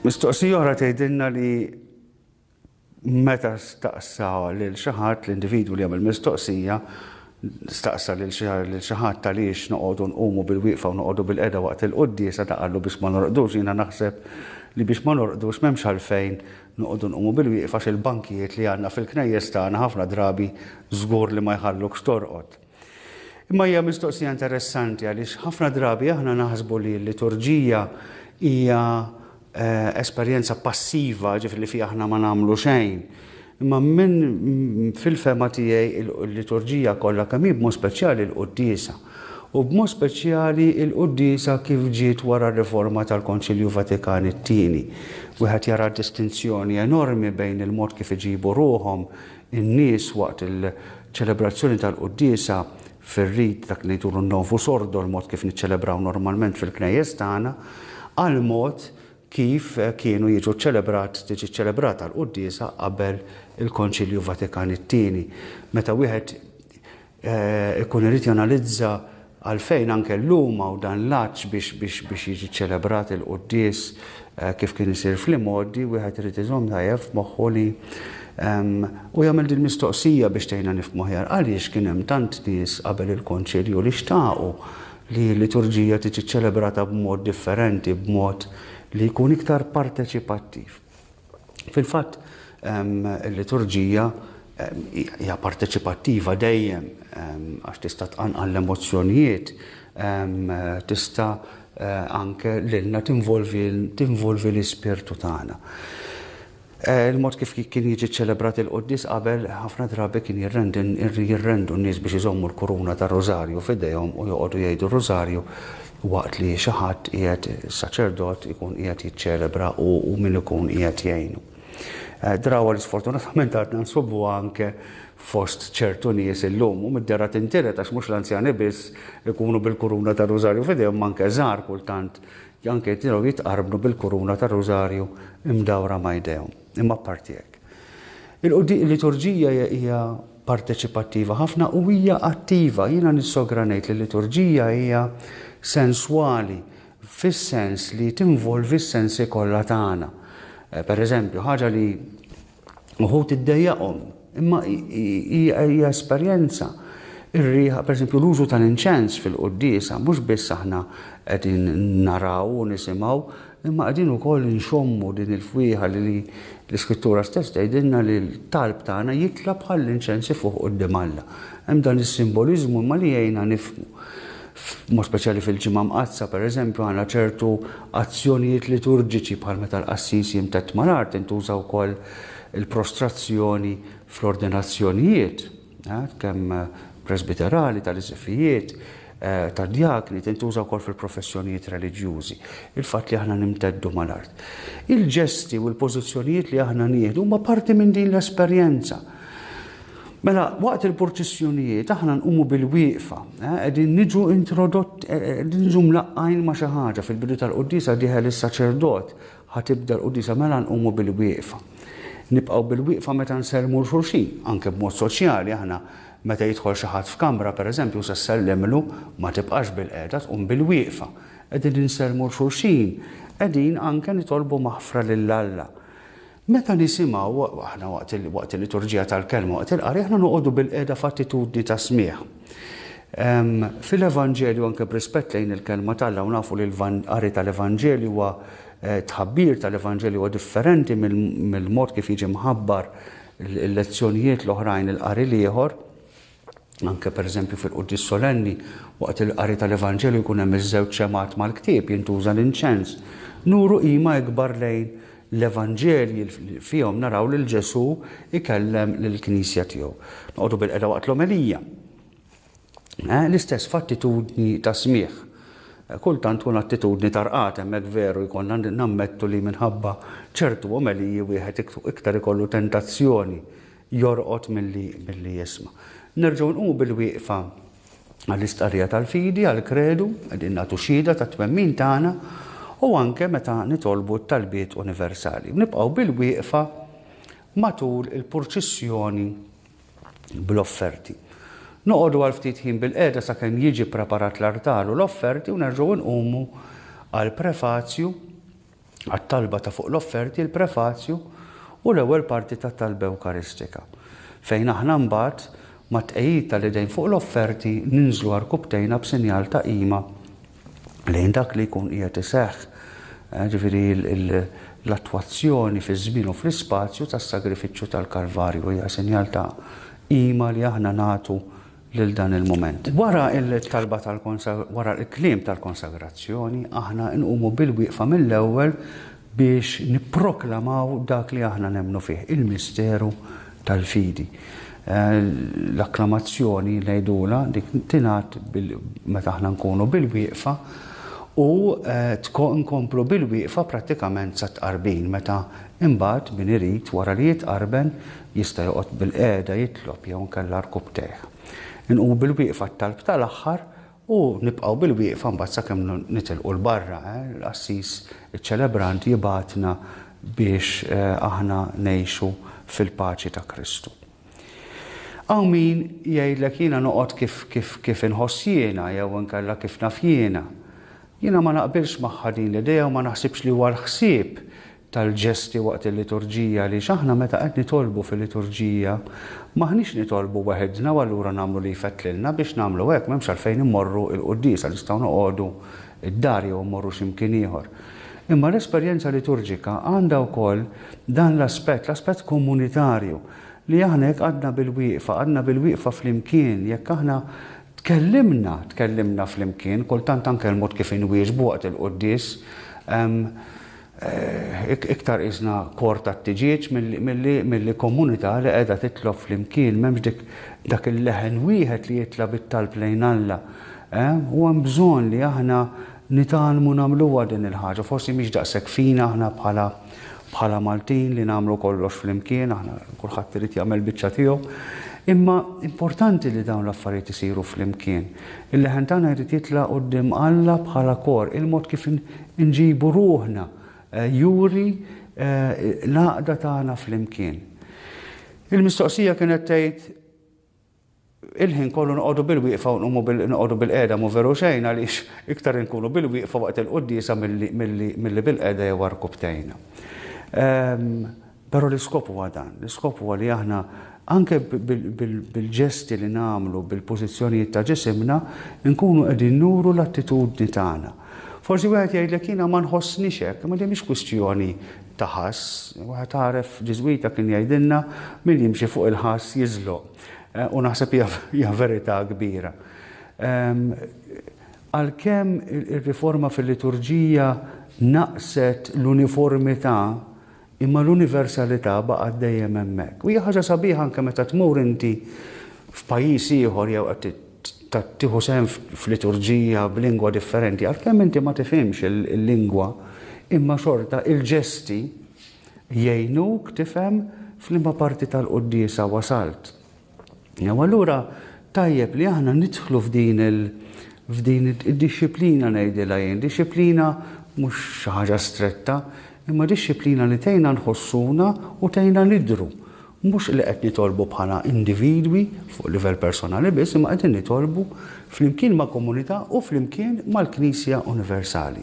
Mistoqsija oħra tgħidilna li meta staqsa lil xi ħadd l-individwu li jagħmel mistoqsija staqsa lil xi ħadd għaliex noqogħdu nqumu bil-wieqfa u noqogħdu bil-qeda waqt il-quddiesa ta' qallu biex ma norqdux jiena naħseb li biex ma norqdux m'hemmx għalfejn noqogħdu nqumu bil-wieqfa għax il-bankijiet li għandna fil-knejjes tagħna ħafna drabi żgur li ma jħallukx torqod. Imma hija mistoqsija interessanti għaliex ħafna drabi aħna naħsbu li l-liturġija hija eh, esperjenza passiva, ġifri li fija aħna ma nagħmlu xejn. Imma minn fil-fema tiegħi il-liturġija kollha kemm hi b'mod speċjali l-qudiesa. U b'mod speċjali il-qudiesa kif ġiet wara r-riforma tal-Konċilju Vatikan it-tieni. Wieħed jara distinzjoni enormi bejn il-mod kif iġibu ruhom In-nies waqt il-ċelebrazzjoni tal-quddiesa fir-rit dak li ngħidulu n-Novus Ordo, l-mod kif niċċelebraw normalment fil-knejjes tagħna, għall-mod kif kienu jiġu ċċelebrat tiġi ċċelebrata l-quddiesa qabel il-Konċilju Vatikan it-Tieni. Meta wieħed ikun irid janalizza għalfejn anke llum hawn dan l-għatx biex jiġi ċċelebrat il-quddies kif kien isir fl-imgħoddi, wieħed irid iżomm tajjeb f'moħħu li u jagħmel dil-mistoqsija biex tgħinna nifhmu aħjar, għaliex kien hemm tant nies qabel il-Konċilju li xtaqu li l-liturġija tiġi ċċelebrata b'mod differenti, b'mod li jkun iktar parteċipattiv? Fil-fatt, il-liturġija hija parteċipattiva dejjem għax tista' tqanqal l-emozzjonijiet, tista' eh, anke lilna tinvolvi l-ispirtu tagħna. Eh, il-mod kif kien jiġi ċelebrat il-qoddis qabel ħafna drabi kien jirrendu n-nies biex iżommu l-kuruna ta' Rosario f'idejhom u joqogħdu jgħidu Rosario Waqt li xi ħadd qiegħed, saċerdot, ikun qiegħed jiċċelebra u min ikun qiegħed jgħinu. Eh, drawa li sfortunatament għadna nsubu anke fost ċertu nies illum u mid-dera tintiret għax mhux l-anzjani biss ikunu bil-kuruna ta' rużarju fidejhom manke żgħar kultant janke jtiraw jitqarbnu bil-kuruna ta' rużarju imdawra ma' jdejhom. Imma partijek. Il-liturġija hija parteċipattiva ħafna u hija attiva. Jiena nissogra ngħid li l-liturġija hija senswali fis-sens li tinvolvi s-sensi kollha tagħna. Eh, per eżempju, ħaġa li uħut iddejjaqhom, imma hija esperjenza ir-riħa, per esempio, l-użu tal-inċens fil-qoddisa, mhux biss aħna qegħdin naraw u nisimgħu, Imma qegħdin ukoll inxommu din il-fwieħa li l-Iskrittura stess tgħidilna li l-talb tagħna jitla' bħall-inċens ifuħ quddiem Alla. Hemm dan is-simboliżmu imma li jgħinna nifhmu. B'mod speċjali fil-Ġimgħa Mqaddsa, pereżempju, għandna ċertu azzjonijiet liturġiċi bħal meta l-qassis jimtedd mal-art, intuża wkoll il-prostrazzjoni fl-ordinazzjonijiet. Kemm presbiterali, tal-isqfijiet, tad-djakni, tintuża wkoll fil-professjonijiet reliġjużi. Il-fatt li aħna nimteddu mal-art. Il-ġesti u l-pożizzjonijiet li aħna nieħdu huma parti minn din l-esperjenza. Mela, waqt il-purċissjonijiet aħna nqumu bil-wieqfa, qegħdin niġu introdott, qegħdin niġu mlaqqgħin ma' xi ħaġa. Fil-bidu tal-quddiesa dieħel is-saċerdot Ħa tibda l-quddiesa mela nqumu bil-wieqfa. Nibqgħu bil-wieqfa meta nsellmu 'l xulxin, anke b'mod soċjali aħna meta jidħol xi ħadd f'kamra pereżempju u se ssellimlu, ma tibqax bil-qiegħda tqum bil-wieqfa. Qegħdin insellmu 'l xulxin, qegħdin anke nitolbu maħfra lil Alla. Meta nisimgħu, aħna waqt il-liturġija tal-kelma, waqt il-qari aħna noqogħdu bil-qiegħda f'attitudni ta' smigħ. Fil-Evanġelju anke b'rispett lejn il-Kelma t'Alla u nafu li l-qari tal-Evanġelju huwa tħabbir tal-Evanġelju huwa differenti mill-mod kif jiġi mħabbar il-lezzjonijiet l-oħrajn il-qari l-ieħor, anke pereżempju fil-Quddies Solenni, waqt il-qari tal-Evanġelju jkun hemm iż-żewġ xemgħat mal-ktieb jintuża l-inċens. Nuru qima ikbar lejn L-Evanġelji fihom naraw lil Ġesù jkellem lill-Knisja tiegħu. Noqogħdu bil-qeda waqt l-omelija. Eh, l-istess f'attitudni ta' smigħ. Eh, kultant tkun attitudni ta' rqat hemmhekk veru jkollna nammettu li minħabba ċertu omeliji wieħed iktar ikollu tentazzjoni jorqod milli milli jisma'. Nerġgħu nqu bil-wieqfa għall-istqarrija tal-fidi, għall-kredu, qegħdin nagħtu xhieda tat-twemmin tagħna, u anke meta nitolbu t-talbiet universali. Nibqgħu bil-wieqfa matul il-purċissjoni bl-offerti. Noqogħdu għal ftit ħin bil-qiegħda sakemm jiġi ppreparat l-artal u l-offerti u nerġgħu nqumu għall-prefazju għat-talba ta' fuq l-offerti, il-prefazju u l-ewwel parti tat-talba ewkaristika, fejn aħna mbagħad, mat-tqegħid tal-idejn fuq l-offerti, ninżlu għarkubbtejna b'sinjal ta' qima lejn dak li jkun qiegħed iseħħ, jiġifieri l-attwazzjoni fiż-żmien u fl-ispazju tas-sagrifiċċju tal-Kalvarju hija sinjal ta' qima li aħna nagħtu lil dan il-mument. Wara l-talba wara l-kliem tal-konsagrazzjoni, aħna nqumu bil-wieqfa mill-ewwel biex nipproklamaw dak li aħna nemmnu fih, il-misteru tal-fidi. L-akklamazzjoni ngħidulha dik tingħad meta aħna nkunu bil-wieqfa u nkomplu bil-wieqfa prattikament sat-tqarbin meta imbagħad min irid wara li jitqarben Jista' joqgħod bilqiegħda jitlob jew inkella rkubtejh. Inqumu bilwieqfa għat-talb tal-aħħar u nibqgħu bilwieqfa mbagħad sakemm nitilqu 'l barra. L-qassis iċċelebrant jibgħatna biex aħna ngħixu fil-paċi ta' Kristu. Hawn min jgħidlek jiena noqgħod kif kif kif inħoss jiena jew inkella kif naf jiena. Jiena ma naqbilx magħha din l-idea u ma naħsibx li huwa l-ħsieb tal-ġesti waqt il-liturġija għaliex aħna meta qed nitolbu fil-liturġija m'aħniex nitolbu weħidna u allura nagħmlu li jfettlilna biex nagħmlu hekk m'hemmx għalfejn immorru il-quddiesa nistgħu noqogħdu d-dar jew immorru xi mkien ieħor. Imma l-esperjenza liturġika għandha wkoll dan l-aspett, l-aspett komunitarju li aħna jekk qgħadna bilwieqfa, qgħadna bilwieqfa flimkien, jekk aħna tkellimna, tkellimna flimkien, kultant anke l-mod kif inwieġbu waqt il-quddies, Iktar qisna kor tat-tiġieġ milli komunità li qiegħda titlob flimkien. M'hemmx dak il-leħen wieħed li jitla' bit-talb lejn Alla. U hemm bżonn li aħna nitgħallmu nagħmluha din il-ħaġa. Forsi mhix daqshekk fina aħna bħala Maltin li nagħmlu kollox flimkien, aħna kulħadd irid jagħmel biċċa tiegħu. Imma importanti li dawn l-affarijiet isiru flimkien. Il-leħen tagħna jrid jitla' quddiem Alla bħala kor. Il-mod kif Inġibu ruħna juri l-għaqda tagħna flimkien. Il-mistoqsija kienet tgħid il-ħin kollu noqogħdu bil-wieqfa u nqumu noqogħdu bil-qiegħda mhu veru xejn għaliex iktar inkunu bil-wieqfa waqt il-quddiesa milli bil-qiegħda jew għarkupptejna. Però l-iskop huwa dan, l-iskop huwa li aħna anke bil-ġesti li nagħmlu, bil-pożizzjonijiet ta' ġisimna, inkunu qegħdin nuru l-attitudni tagħna. Forsi wieħed jgħidlek jiena ma nħossnix hekk, imma din mhix kwistjoni ta' ħass. Wieħed għaref Ġiżwita kien jgħidilna min jimxi fuq il-ħass jiżloq. Eh, u naħseb hija verità kbira. Ehm, għalkemm ir-riforma fil-liturġija naqset l-uniformità Imma l-universalità baqgħet dejjem hemmhekk. U hija ħaġa sabiħa anke meta tmur inti f'pajjiż ieħor jew qed tieħu sehem f'liturġija b'lingwa differenti, għalkemm inti ma tifhimx il-lingwa, imma xorta il-ġesti jgħinuk tifhem f'liema parti tal-quddiesa wasalt. U allura tajjeb li aħna nidħlu f'din il f'din id-dixxiplina ngħidilha jien, dixxiplina mhux xi ħaġa stretta, imma dixxiplina li tgħinna nħossuna u tgħinna nidhru. Mhux li qed nitolbu bħala individwi fuq livell personali biss, imma qegħdin nitolbu flimkien ma' komunità u flimkien mal-Knisja Universali.